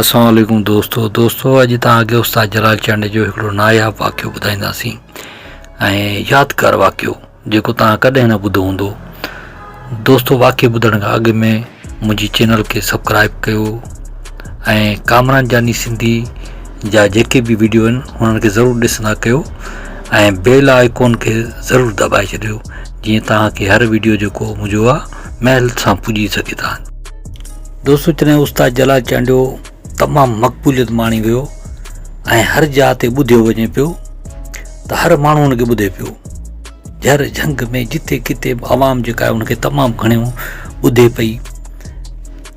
السلام عليڪم دوستو دوستو اڄ توهانکي استاد جلال چانڊي جو هڪڙو ناياب واقعو ٻڌائينداسين ۽ يادگار واقعو جيڪو توهان ڪڏهن نه ٻڌو هوندو دوستو واقعي ٻڌڻ کان اڳ ۾ منهنجي چينل کي سبسڪرائب ڪيو ۽ ڪامران جاني سنڌي جا جيڪي به ويڊيو آهن انهن کي ضرور ڏسندا ڪيو ۽ بيل آئڪون کي ضرور دٻائي ڇڏيو جيئن توهان کي هر وڊيو جو ڪو مزو آ مهل سان پڄي سگهي ٿا. دوستو چني استاد جلال چانڊيو تمام مقبوليت ماڻي ويو ۽ هر جاء تي ٻڌيو وڃي پيو ته هر ماڻهو ان کي ٻڌي پيو جهر جهنگ ۾ جتي ڪتي به عوام جيڪا ان کي تمام گهڻيون ٻڌي پئي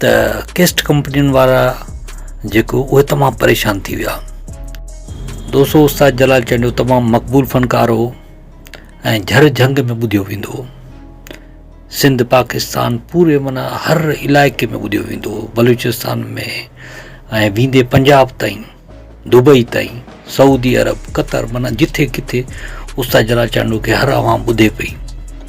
ته ڪيسٽ ڪمپنين وارا جيڪو اهي تمام پريشان ٿي ويا دوستو استاد جلال چانڊيو تمام مقبول فنڪار هو ۽ جھر جھنگ ۾ ٻڌيو ويندو هو. سنڌ پاڪستان پوري معنيٰ هر علائقي ۾ ٻڌيو ويندو هو، بلوچستان ۾ ۽ ويندي پنجاب تائين، دبئي تائين، سعودي عرب، قطر معنيٰ جٿي ڪٿي استاد جلال چانڊوڪي هر عوام ٻڌي پئي.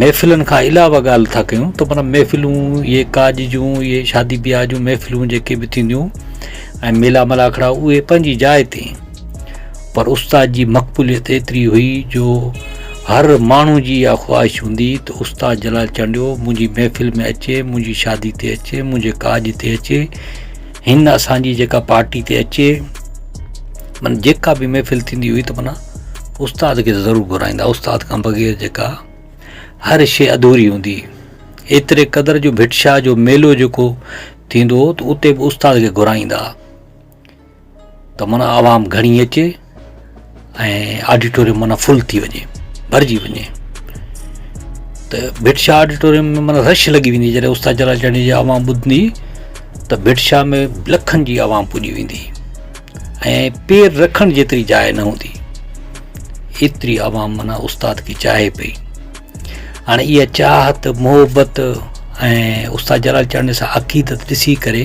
محفلن کان علاوه ڳالهه ٿا ڪيون ته منا محفلون اهي ڪاڄ جون اهي شادي بياهه جون محفلون جيڪي بھ ٿينديون ۽ ميلا ملاکڙا اهي پنهنجي جاء تي پر استاد جي مقبوليت ايتري هئي جو هر ماڻهو جي اها خواهش هوندي ته استاد جلال چانڊيو منهنجي محفل ۾ اچي منهنجي شادي تي اچي منهنجي ڪاڄ تي اچي هن اسان جي جيڪا پارٽي تي اچي من جيڪا به محفل ٿيندي هئي ته منا استاد کي ضرور گهرائيندا استاد کان بغير جيڪا هر شيء ادھوري هوندي ايتري قدر جو ڀٽ شاهه جو ميلو جيڪو ٿيندو هو ته اتي به استاد کي گهرائيندا ته معنيٰ عوام گهڻي اچي ۽ آڊيٽوريم معنيٰ فل ٿي وڃي ڀرجي وڃي ته ڀٽ شاهه آڊيٽوريم ۾ معنيٰ رش لڳي ويندي جڏهن استاد جلاچاڻيء جي عوام ٻڌندي ته ڀٽ شاهه ۾ لکن جي عوام پڄي ويندي ۽ پير رکڻ جيتري جاء نه هوندي ايتري عوام معنيٰ استاد کي چاهي پئي هاڻي اها چاهت محبت ۽ استاد جلاچاڻيء سان عقيدت ڏسي ڪري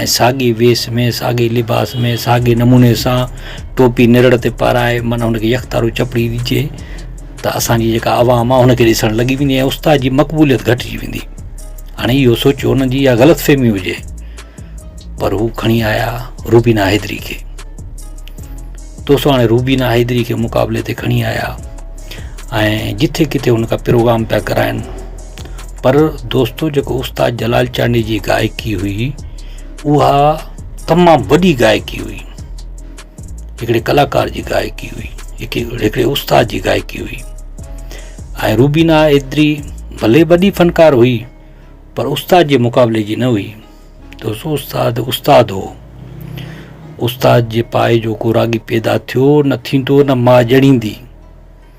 ۽ ساڳي ويس ۾ ساڳي لباس ۾ ساڳي نموني سان ٽوپي نرڙ تي پارائي معنيٰ هن کي يڪتارو چپڙي ڏجي ته اسان جي جيڪا عوام آهي هن کي ڏسڻ لڳي ويندي ۽ استاد جي مقبوليت گهٽجي ويندي هاڻي اهو سوچو انهن جي اها غلط فهمي هجي پر هو کڻي آيا روبينا حيدري کي دوستو هاڻي روبينا حيدري کي مقابلي تي کڻي آيا ۽ جٿي ڪٿي هن کان پروگرام پيا ڪرائن پر دوستو جيڪو استاد جلال چانڊيي جي گائڪي هئي اها تمام وڏي گائڪي هئي هڪڙي ڪلاڪار جي گائڪي هئي هڪڙي استاد جي گائڪي هئي ۽ روبينا ايتري ڀلي وڏي فنڪار هئي پر استاد جي مقابلي جي نه هئي دوستو استاد استاد هو استاد جي پاء جو ڪو راڳي پيدا ٿيو نه ٿيندو نه ماء ڄڻيندي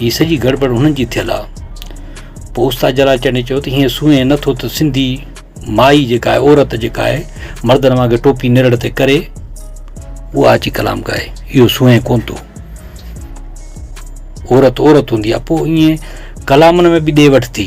هي سڄي گڙٻڙ هنن جي ٿيل آ. پوء استاد جلال چنڙي چيو ته هيئن سونهين نه ٿو ته سنڌي مائي جيڪا آهي عورت جيڪا آهي مردن وانگي ٽوپي نرڙ تي ڪري اها اچي ڪلام ڳائي اهو سونهين ڪون ٿو عورت عورت هوندي آ پوء ائين ڪلامن ۾ به ڏي وٺ ٿي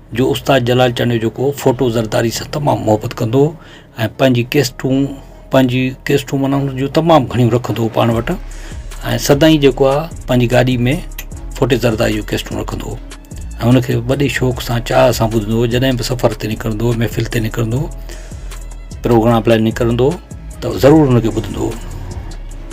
جو استاد جلال چانڊيو جيڪو فوٽو زرداري سان تمام محبت ڪندو هو ۽ پنهنجي ڪيسٽون پنهنجي ڪيسٽون معنيٰ ان جون تمام گهڻيون رکندو هو پاڻ وٽ ۽ سدائين جيڪو آهي پنهنجي گاڏي ۾ فوٽي زرداري جون ڪيسٽون رکندو هو ۽ ان کي وڏي شوق سان چاهه سان ٻڌندو هو جڏهن به سفر تي نڪرندو هو محفل تي نڪرندو هو پروگرام لاء نڪرندو هو ته ضرور ان کي ٻڌندو هو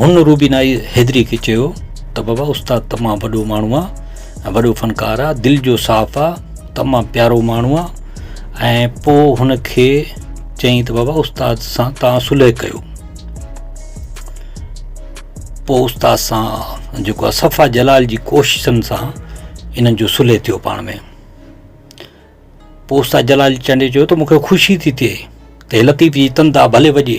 هن روبينائي حيدري کي چيو ته بابا استاد تمام وڏو ماڻهو آ ۽ وڏو فنڪار آ دل جو صاف آ تمام پيارو ماڻهو آ ۽ پو هن کي چيائين ته بابا استاد سان تان صلح ڪيو پو استاد سان جيڪو آ صفا جلال جي ڪوششن سان انهن جو صلح ٿيو پاڻ ۾ پو استاد جلال چنڊي چيو ته مونکي خوشي ٿي ٿئي ته لطيف جي تندا ڀلي وڄي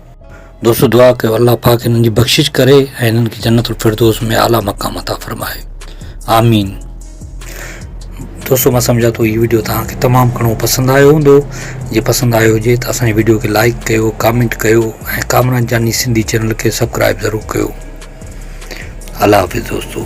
دوستو دعا ڪيو الله پاڪ هنن جي بخشش ڪري ۽ هنن کي جنت الفردوس ۾ اعليٰ مقام عطا فرمائي آمين دوستو مان سمجھا ٿو هي ويڊيو توهان کي تمام گھڻو پسند آيو هوندو جي پسند آيو هجي ته اسان جي ويڊيو کي لائڪ ڪيو ڪامينٽ ڪيو ۽ ڪامران جاني سنڌي چينل کي سبسڪرائب ضرور ڪيو الله حافظ دوستو